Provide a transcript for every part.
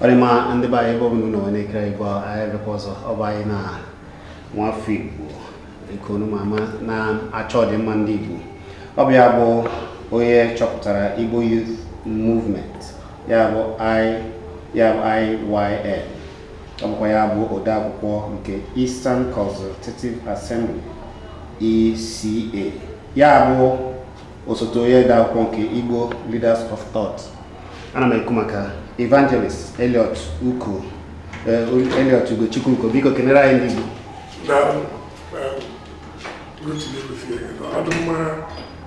ọ dị mma ndị be anyị ebe ọ bụla unu nọ wee na-ekiri anyị bụ anyị bịakwa ọzọ ọ bụ anyị na nwafọ igbo nke unu ma ama na-achọ ọdịmma ndị igbo ọ bụ ya bụ onye chọpụtara igbo youth movement ya bụ I ya bụ IYM ọ bụkwa ya bụ odeakwụkwọ nke Eastern Consultative Assembly ECA ya bụ osote onye odeakwụkwọ nke Igbo Leaders of Thought ana m ekwu maka Evangelist Elliot Ugochukwu Uko biko kenere anyị ndị Igbo Daalụ. Ee, Ruth na-egosi ya. Ọ dị mma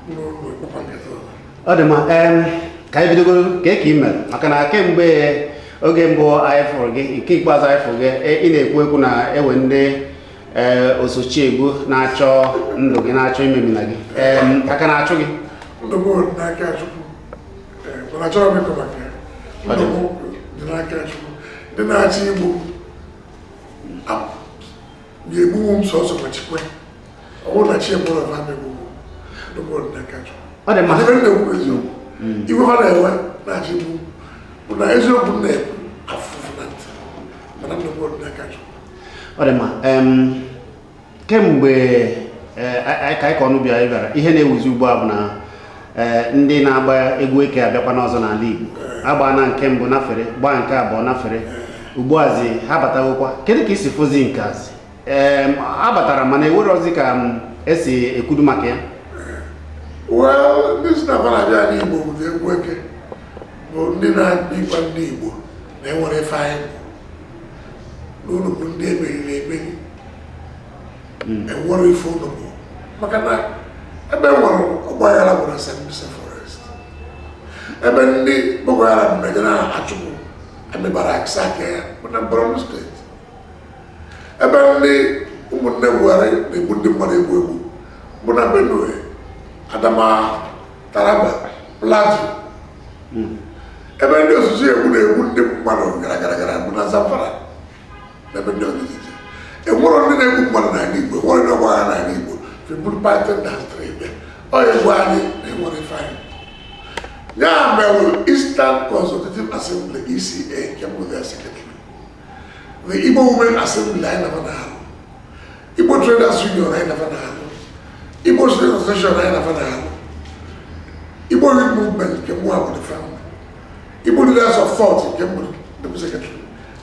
n'ụlọ ịkpọkwa nkịta ọzọ. ọ dị mma ka anyị bidogoro kee ka ị mee maka na kemgbe oge mbụ anyị fụrụ gị nke ikpeazụ anyị fụrụ gị e, ị na-ekwu ekwu na e nwe ndị e, osochi egbu na-achọ ndụ gị na-achọ imemina gị aka na-achụ gị ndụ m dị n'aka Chukwu ndị na-achọ igbu m ga-egbunwu m sọsọ ma chi kwe ọ bụrụ na chi egburọ fa ama egbu m ndụ m dị n'aka Chukwu ọ dị mma ebe m na-ekwu eziokwu hmm. iwe ha na-ewe na-achọ igbu m bụ na eziokwu m na-ekwu na-afụ ụfụ na ntị mana ndụ m dị n'aka Chukwu ọ dị mma kemgbe eh, ka anyị kwuo unu bịara ị bịara ihe na-ewuzi ugbu a bụ na eh, ndị na-agba egwu eke abịakwana ọzọ n'ala Igbo eh. agbaana nke mbụ nafere gbaa nke abụọ nafere ugbuazi ha batagokwa kedu ka i si fụzi nke azi ha batara mana e nwerọzi ka e si ekwudu maka ya well ndị si na-abịa n'igbo bụ egwu eke bụ ndị na-akpa ịgwa ndị igbo na enwerọ ife anyị na unu bụ ndị e meriri emeri hmm. enwerọ ife unu bụ maka na ebe nwere ọgbaghara bụ na sambisa forest ebe ndị boko haram na-eje na-achụpụ army barracks aka ya bụ na borno steeti ebe ndị ụmụnne buhari na-egbu ndị mmadụ egbu egbu bụ na benue adamawa taraba plateau ebe ndị osochi egbu na-egbu ndị mmadụ gara gara gara bụ na zamfara na ebe ndị ọzọ dị iche enwerọ ndị na-egbu mmadụ n'ala igbo enwerọ ndị ọgbaghara n'ala igbo fa buru python dance ebe ọ ya egbu anyị na enwerọ ife anyị ya mere eastern consultative assembly eca nke mbụ ga-asị the Igbo Women Assembly anyị na fa na-alụ Igbo Traders Union anyị na fa na-alụ Igbo Student Association anyị na fa na-alụ Igbo Youth Movement nke mụ abụ the founder Igbo Leaders of Thought nke m bụ the secretary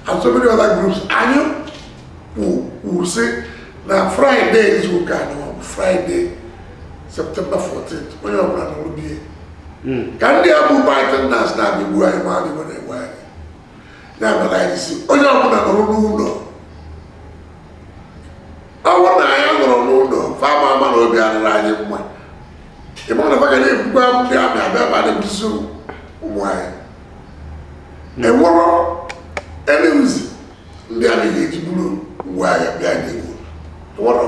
and so many other groups anyị wee sị na Friday izu ụka na ọ bụ Friday September 14th onye ọbụla nọrọ be ya ka ndị a bụ Python Dance na-abịa igbu anyị ma adịgbo na-egbu anyị ya mere anyị sị onye ọbụla nọrọ n'ụlọ ọ bụrụ na anyị nọrọ n'ụlọ fa ma-ama na obi adịrọ anyị mma ị mara na fa ga na-ebukwa ndị army abịa ma na-egbusi ụmụ anyị enwere eleuzi ndị a na-eji buru ngwa agha bịa n'Igbo enwere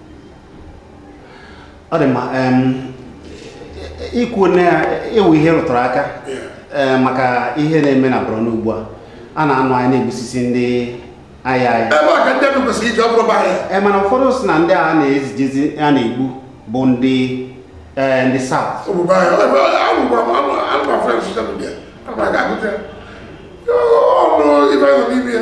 ọ dị mma ikwu na ewu ihe rụtụrụ aka maka ihe na-eme na Borno ugbu a a na-anụ anyị na-egbusisi ndị agha aha ebe a ka ndị ndụ kwesịrị iji ọ bụrụ bahịa ee mana ụfọdụ sị na ndị a na-ezije ezi a na-egbu bụ ndị ee ndị South obodo ahịa ebe agwụgwara m anụ anụ ma fere social media ana m aga agụta ya ọnụ ibe nọ n'ime ya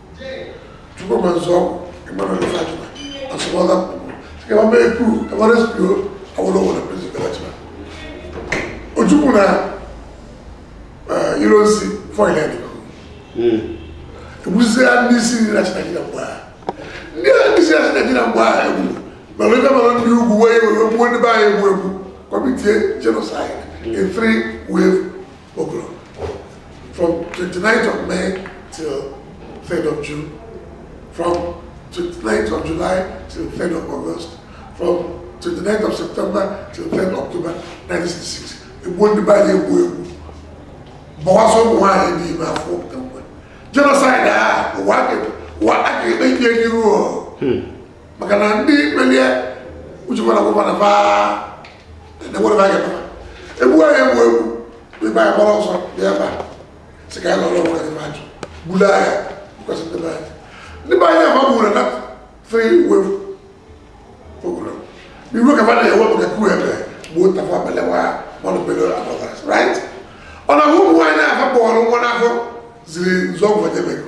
Tupu ma nzọ ịmara ndị Fatima, asụmọla m kwuru, sị ka mama ekwu, ka mara sikio awụrụ ụwa na prison Fatima. Ojukwu na iro nsi fọyịn ya dịkọ. Egbuzia ndị isi nri na Chineke na mgbe a. Ndị a ndị isi na Chineke na mgbe a egburu, mana ebe mara ndị ugwu wee gbuo ndị be anyị egbu egbu, kọmitie genocide in three wave pogrom, from 29th of May till 3rd of June, from 29th of July till 3rd of August, from 29th of September till 3rd of October 1966. Egbuo ndị be anyị egbu egbu gbawasị ụmụ nwaanyị dị ime afọ pụta mgbe genocide a ụwa a ga- ụwa a ga-ekpe ikpe n'iru o. maka na ndị melie uchekwara gwụkwara baa enwere m aga egbu anyị egbu egbu ndị be anyị gbara ọsọ ndị be anyị sị ka anyị nọrọ onwe anyị a jụ bulu agha kwesị ndị be anyị ndị be anyị ama gburu na three wave pogrom iwe ka mmadụ ewe maka coup ebe gbuo Tafawa Balewa Ahmadu Bello abọgas right ọ na ụmụ nwaanyị afọ kpọrọ nwa n'afọ ziri Nzeogwu edebego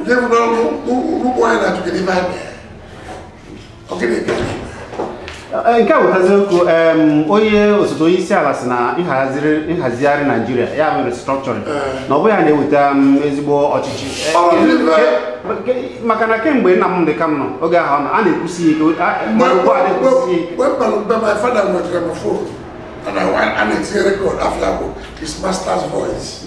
Njem n'ọrụ ụkwụ anyị na-atụgị n'ime anyị. Ọ gịnị ka anyị eh, nke a wetazi okwu onye osote onye isi ala sị na nhazigharị Nigeria ya mere restructuring eh. na ọ bụghị ya na-eweta mm, ezigbo ọchịchị eh, maka na kemgbe Nnamdi Kanu oge ahụ a na-ekwusi ike mgbe a na-etinye record afọ ya bụ his master's voice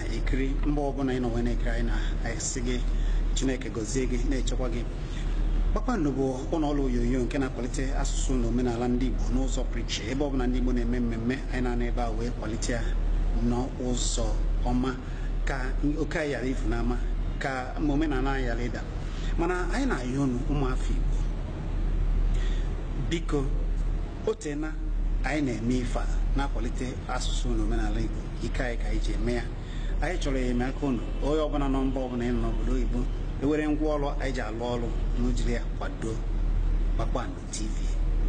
na-ekiri mgbe ọbụla ị nọ wee na-ekiri anyị na-asị gị chineke gọzie gị na-echekwa gị kpakpando bụ ụlọ ọrụ onyonyo nke na-akwalite asụsụ na omenala ndị igbo n'ụzọ pụrụ iche ebe ọbụla ndị igbo na-eme mmemme anyị na-anọ ebe a wee kwalite ya n'ụzọ ọma ka oke anyị ghara ifu n'ama ka omenala anyị ghara ịda mana anyị na-ayọ unu ụmụafọ igbo biko o teena anyị na-eme ife a na-akwalite asụsụ na omenala Igbo ike anyị ka anyị ji eme ya anyị chọrọ enyemaka unu onye ọbụla nọ mba ọbụla ị nọ n'obodo oyibo e were ngwa ọrụ anyị ji alụ ọrụ unu jiri ya kwado Kpakpando TV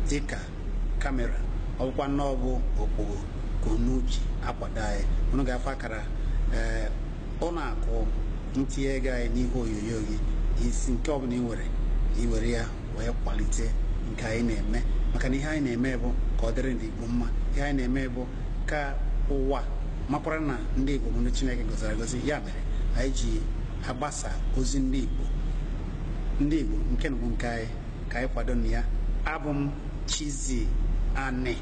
dịka kamera ọ bụkwa na ọ bụ okpogho ka unu ji akwado anyị unu ga-afụ akara ee ụlọ akụ ntinye ego anyị n'ihe onyonyo gị isi nke ọbụla ị nwere ị were ya wee kwalite nke anyị na-eme maka na ihe anyị na-eme bụ ka ọ dịrị ndị Igbo mma ihe anyị na-eme bụ ka ụwa makwara na ndị Igbo bụ ndị Chineke gọziri agọzi ya mere anyị ji agbasa ozi ndị Igbo ndị Igbo nke na bụ nke anyị ka anyị kwadonụ ya abụ m Chizzy Ani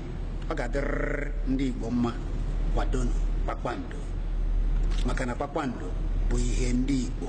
ọ ga-adịrịrị ndị Igbo mma kwadonụ kpakpando maka na kpakpando bụ ihe ndị Igbo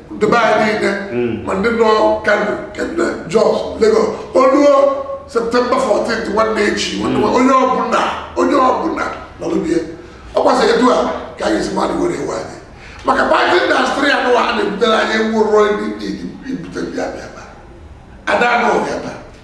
ndị be anyị niile ma ndị nọ kano kemgbe jos lagos o luo septemba 14 nwanne echi nwanne nwa- onye ọbụla onye ọbụla nọlụ be ya kwasị etu a ka anyị esi mmadụ were ewe anyị maka pati indastri anụ a na-ebutere anyị nwụrụ ndị ibute ndị abịa ebe a. ada anụ ọbịa ebe a.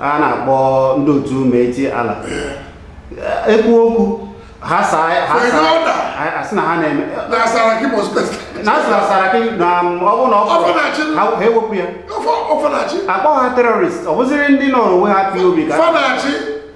a na-akpọ ndị otu Miyetti Allah ekwu okwu ha saa ha Fere saa ọda. a- asị na ha na-eme na saraki mọspet na asị na saraki na m, ọ bụ na ọ Ọ bụ na chi. ha ga-ewepụ ya ofe na-achị akpọ ha terọrist ọ bụziri ndị nọrọ onwe ha IPOB ka fa na-achụ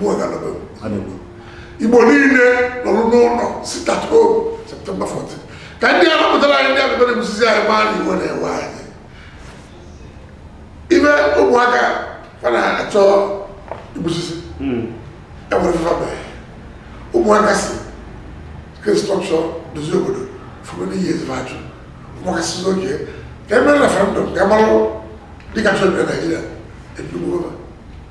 mụọ ga nọbe anọgbu igbo niile nọrụ n'ụlọ sit at home septemba 14 ka ndị a napụtara anyị ndị abịa na-ebusizi anyị maa na iwe na-ewe anyị ibe ụmụaka fa na-achọ igbusisi enwere ife fa mee ụmụaka sị restrọkshọ dozie obodo fụrụ n'ihi ezigbo ajụ ụmụaka sị oke ka e mee referendum ka a marụ ndị ka chọrọ na naijiria ebido gbuo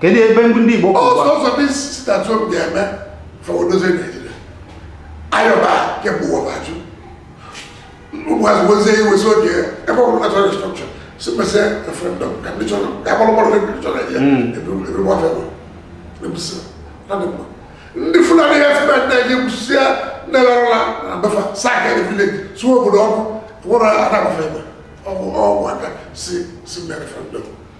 kedu ebe ndị ndị Igbo kwụrụ ọsọ ọsọ dị site atụ obi ga-eme fọ odozie Naijiria a yọba kemgbe ụwa fa jụ ụmụazị wezie iwe sị oke ebe ọ bụrụ na chọrọ restrọkshọn sị mezie referendọm ka ndị chọrọ ka agbalụ gbọrọ ndị ndị chọrọ ya ebe gbafee bụ ebisi na dị mma ndị Fulani ya febe ndị anyị gwụsịa ndị larala na be fa saa ka ndị vileji sụọ obodo ọkụ nwere ana agbafe ebe ọ bụ ụmụaka sị si mee referendọm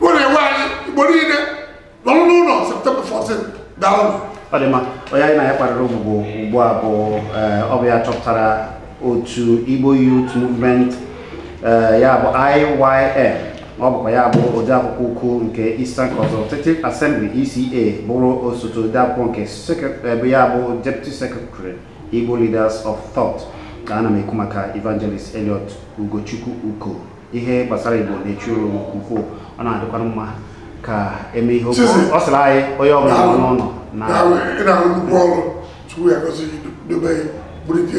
Ọ na-agwa anyị Igbo niile nọrọ n'ụlọ na September fourteen daalụ. Ọ dị mma, onye anyị na ya kparịrị ụbụbọ ugbu a bụ eh, ọ bụ ya chọpụtara otu Igbo Youth Movement eh, ya bụ IYM ọ bụkwa ya bụ odeakwụkwọ ukwu nke Eastern Consultative Assembly ECA bụrụ osote odeakwụkwọ nke ebe eh, ya bụ Deputy Secretary Igbo Leaders of Thought ka ana m ekwu maka Evangelist Elliot Ugochukwu Uko ihe gbasara igbo na-echu ụra nke ukwuu ọ na-adịkwara mma ka eme ihe okwu ọ sịrị anyị onye ọbụla nọ n'ụlọ na ị na-arụ nnukwu ọrụ Chukwu ya gọzie gị dobe ya bulite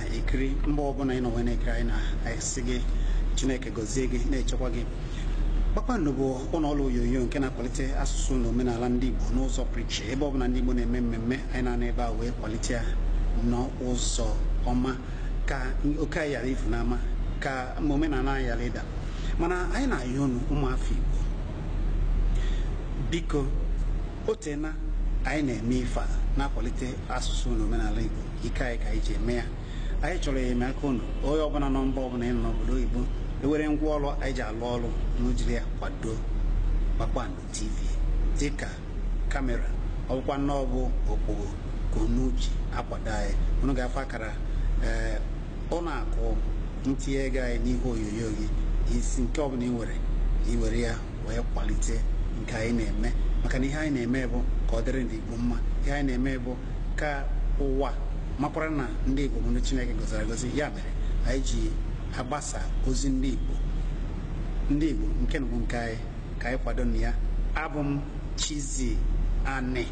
ekiri mgbe ọbụla ị nọ wee na-ekiri anyị na-asị gị chineke gọzie gị na-echekwa gị kpakpando bụ ụlọ ọrụ onyonyo nke na-akwalite asụsụ na omenala ndị igbo n'ụzọ pụrụ iche ebe ọbụla ndị igbo na-eme mmemme anyị na-anọ ebe a wee kwalite ya n'ụzọ ọma ka oke anyị ghara ifu n'ama ka omenala anyị ghara ịda mana anyị na-ayọ unu ụmụafọ igbo biko o teena anyị na-eme ife a na-akwalite asụsụ na omenala Igbo ike anyị ka anyị ji eme ya anyị chọrọ enyemaka unu onye ọbụla nọ mba ọbụla ị nọ n'obodo oyibo e nwere ngwa ọrụ anyị ji alụ ọrụ unu jiri ya kwado Kpakpando TV dịka kamera ọ bụkwanụ na ọ bụ okpogho ka unu ji akwado anyị unu ga-afụ akara ee ụlọ akụ ntinye ego anyị n'ihe onyonyo gị isi nke ọbụla ị nwere i were ya wee kwalite nke anyị na-eme maka na ihe anyị na-eme bụ ka ọ dịrị ndị Igbo mma ihe anyị na-eme bụ ka ụwa makwara na ndị Igbo bụ ndị Chineke gọziri agọzi ya mere anyị ji agbasa ozi ndị Igbo ndị Igbo nke a bụ nke anyị ka anyị kwadonu ya abụ m Chizzy Ani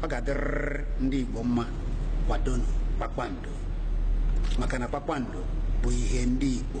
ọ ga-adịrịrị ndị Igbo mma kwadonu kpakpando maka na kpakpando bụ ihe ndị Igbo